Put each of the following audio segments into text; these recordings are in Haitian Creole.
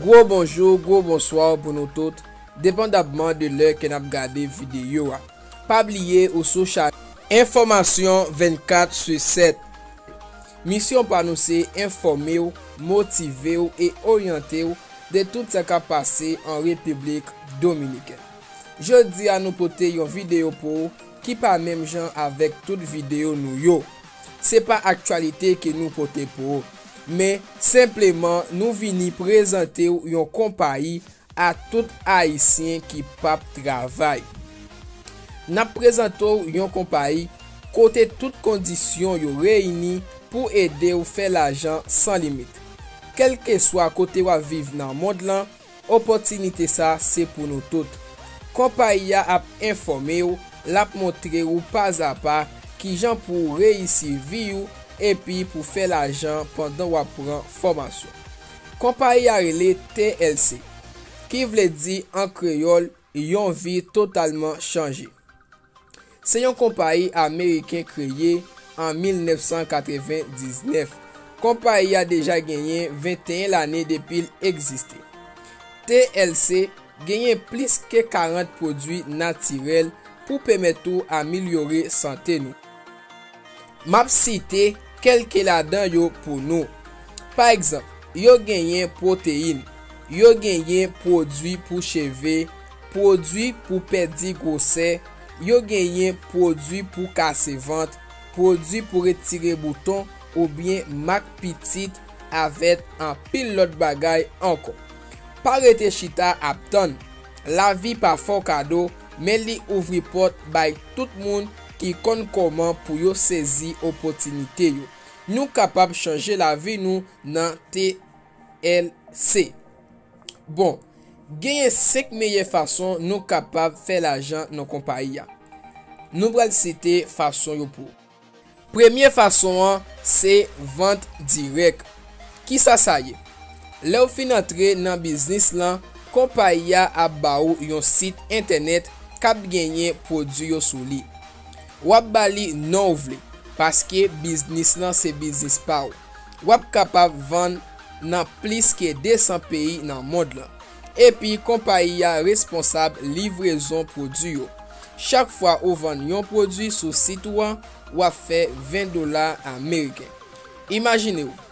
Gwo bonjou, gwo bonsoir pou nou tout, depandabman de lè ke nap gade videyo a. Pa bliye ou sou chanèl. Enfòmasyon 24 su 7 Misyon pa nou se enfòme w, motive w e oryante w de tout sa kap pase an Repiblik Dominikèn. Jodi a nou pote yon videyo pou ou ki pa menm jan avèk tout videyo nou yo. Se pa aktyalite ke nou pote pou ou, men senpleman nou vini prezante ou yon konpayi a tout Ayisyen ki pap travay. N ap prezante ou yon konpayi kote tout kondisyon yo reyini pou ede ou fè lajan san limit. Kèlkeswa kote w ap viv nan mond lan, Opòtinite sa se pou nou tout. Konpayi a ap enfòme ou, l ap montre ou pazapa kijan pou ou reyisi vi ou epi pou fè lajan pandan w ap pran fòmasyon. Konpayi a rele TLC, ki vle di an kreyòl yon vi totalman chanje. Se yon konpayi ameriken kreye an 1999. Konpayi a deja genyen 21 lane depi l egziste. TLC genyen plis ke 40 pwodui natirèl pou pèmèt ou amilyore sante nou. M ap site kèlke ladan yo pou nou. Pa egzanp, yo genyen pwoteyin, yo genyen pwodui pou cheve, pwodui pou pèdi gwosè, yo genyen pwodui pou kase vant, pwodui pou retire bouton oubyen mak pitit avèt anpil lòt bagay ankò. Pa rete chita ap tann. Lavi pa fo kado men li ouvri pòt bay tout moun ki konn kòman pou yo sezi opotinite yo. Nou kapab chanje lavi nou nan TLC. Bon, genyen 5 meyè fason nou kapab fè lajan nan konpayi a. Nou pral site fason yo pou. Premye fason an se vant dirèk. Kisa sa ye? Lè w fin antre nan biznis lan, konpayi a ap ba ou yon sit entènèt k ap genyen pwodui yo sou li. W ap ba li non w vle, paske biznis lan se biznis pa w. W ap kapab vann nan plis ke 200 peyi nan mond lan. Epi konpayi a responsab livrezon pwodui yo. Chak fwa ou vann yon pwodui sou sit ou an, w ap fè 20 dola ameriken. Imajine w!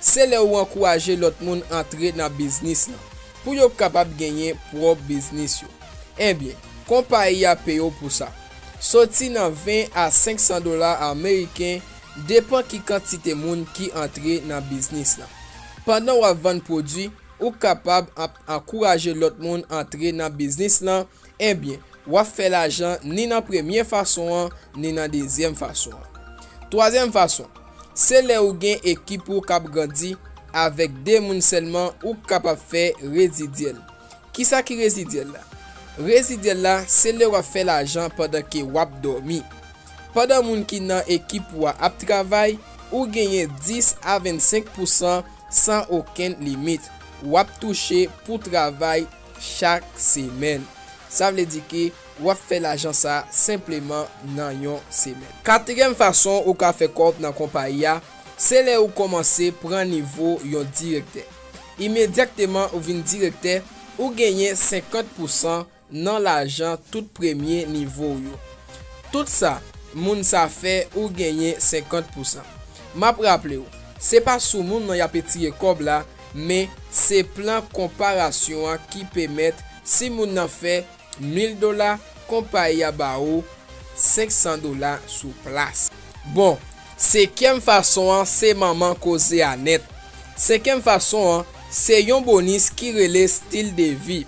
Se lè ou ankouraje lòt moun antre nan biznis lan pou yo kapab genyen pwòp biznis yo. Enbyen, konpayi a peye w pou sa. Soti nan 20 a 500 dola ameriken depan ki kantite moun ki antre nan biznis lan. Pandan w ap vann pwodwi, ou kapab ap ankouraje lòt moun antre nan biznis lan Ebyen, w ap fè lajan ni nan premye fason an ni nan dezyèm fason an. Twazyèm fason, se lè ou gen ekip ou k ap grandi, avèk 2 moun sèlman ou kapab fè rezidyèl. Kisa ki rezidyèl la? Rezidyèl la se lè w ap fè lajan pandan ke w ap dòmi. Pandan moun ki nan ekip ou a ap travay, ou genyen 10 a 25 pousan san okenn limit, w ap touche pou travay. chak semèn. Sa vle di ke w ap fè lajan sa a senpleman nan yon semèn. Katriyèm fason ou ka fè kòb nan konpayi a, se lè ou kòmanse pran nivo yon direktè. Imedyakteman ou vin direktè, ou genyen 50 pousan nan lajan tout premye nivo w yo. Tout sa moun sa fè ou genyen 50 pousan. M ap raple w, se pa sou moun nan y ape tire kòb la, men se plan konparasyon an ki pemèt si moun nan fè 1000 dola konpayi a ba ou 500 dola sou plas. Bon, sekyèm fason an se manman koze a nèt. Sekyèm fason an se yon bonis ki rele stil de vi.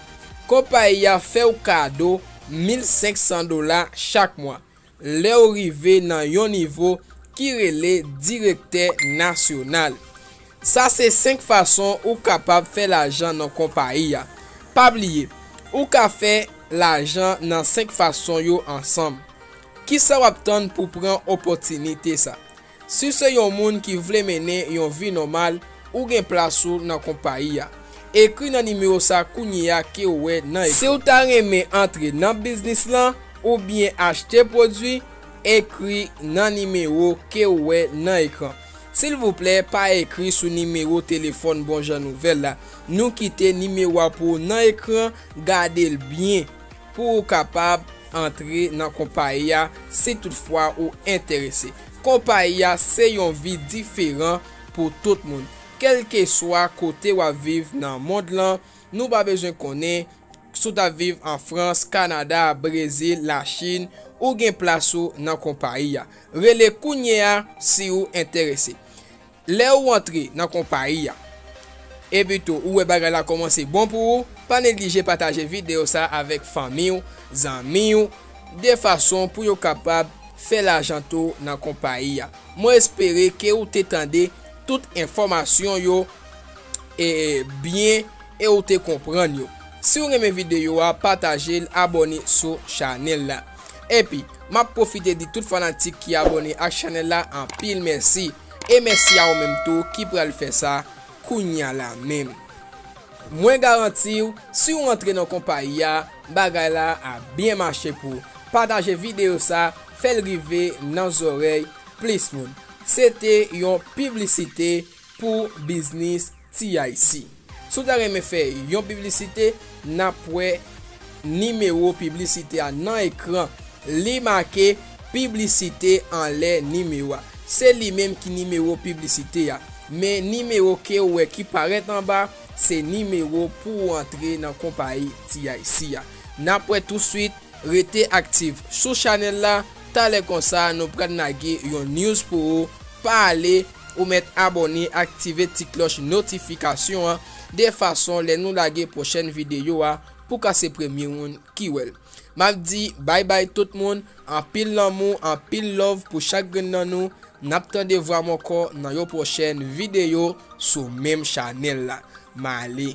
Konpayi a fè ou kado 1500 dola chak mwa. lè w rive nan yon nivo ki rele direktè nasyonal. Sa se 5 fason ou kapab fè lajan nan konpayi a. Pa bliye, ou ka fè lajan nan 5 fason yo ansanm. Kisa w ap tann pou pran opòtinite sa? Si w se yon moun ki vle mennen yon vi nòmal, ou gen plas ou nan konpayi a. Ekri nan nimewo sa kounye a ke w wè nan ekran. Si w ta renmen antre nan biznis lan oubyen achte pwodwi, ekri nan nimewo ke w wè nan ekran. Silvouplè pa ekri sou nimewo telefòn Bonjan Nouvèl la. Nou kite nimewo a pou ou nan ekran, gade l byen. Pou ou kapab antre nan konpayi a si tout fwa ou enterese. Konpayi a se yon vi diferan pou tout moun. Kèlkeswa kote wap viv nan mond lan, nou pa bezwen konnen si w tap viv an Frans, Kanada, Brezil, la Chin, ou gen plas ou nan konpayi a. Rele kounye a si ou enterese. Lè ou antre nan konpayi a, epi tou ou wè bagay la kòmanse bon pou ou, pa neglije pataje videyo sa avèk fanmi ou, zanmi ou, de fason pou yo kapab fè lajan tou nan konpayi a. Mwen espere ke ou te tande tout enfòmasyon yo byen e ou te konprann yo. Si ou renmen videyo a, pataje l, abòne sou chanèl la. Epi, m ap pwofite di tout fanatik ki abòne ak chanèl la anpil mèsi. E mèsi a ou menm tou ki pral fè sa kounya la menm. Mwen garanti w si w antre nan konpayi a, bagay la ap byen mache pou w. Pataje videyo sa, fè l rive nan zòrèy plis moun. Se te yon piblisite pou biznis TIC. Si w ta renmen fè yon piblisite, n ap wè nimewo piblisite a nan ekran. Li make Piblisite anlè nimewo a. Se li menm ki nimewo piblisite a. Men nimewo ke ou wè ki parèt anba, se nimewo pou ou antre nan konpayi TIC a. N ap wè touswit, rete aktif sou chanèl la, talè konsa nou pral lage yon news pou ou, pa ale. Ou mèt abòne aktive ti klòch notifikasyon an de fason lè nou lage pwochèn videyo a pou ka se premye moun ki wèl. Map di bay bay tout moun, anpil lanmou anpil love pou chak grenn nan nou, nap tande vwam ankò nan yon pwochèn videyo sou menm chanèl la. Male.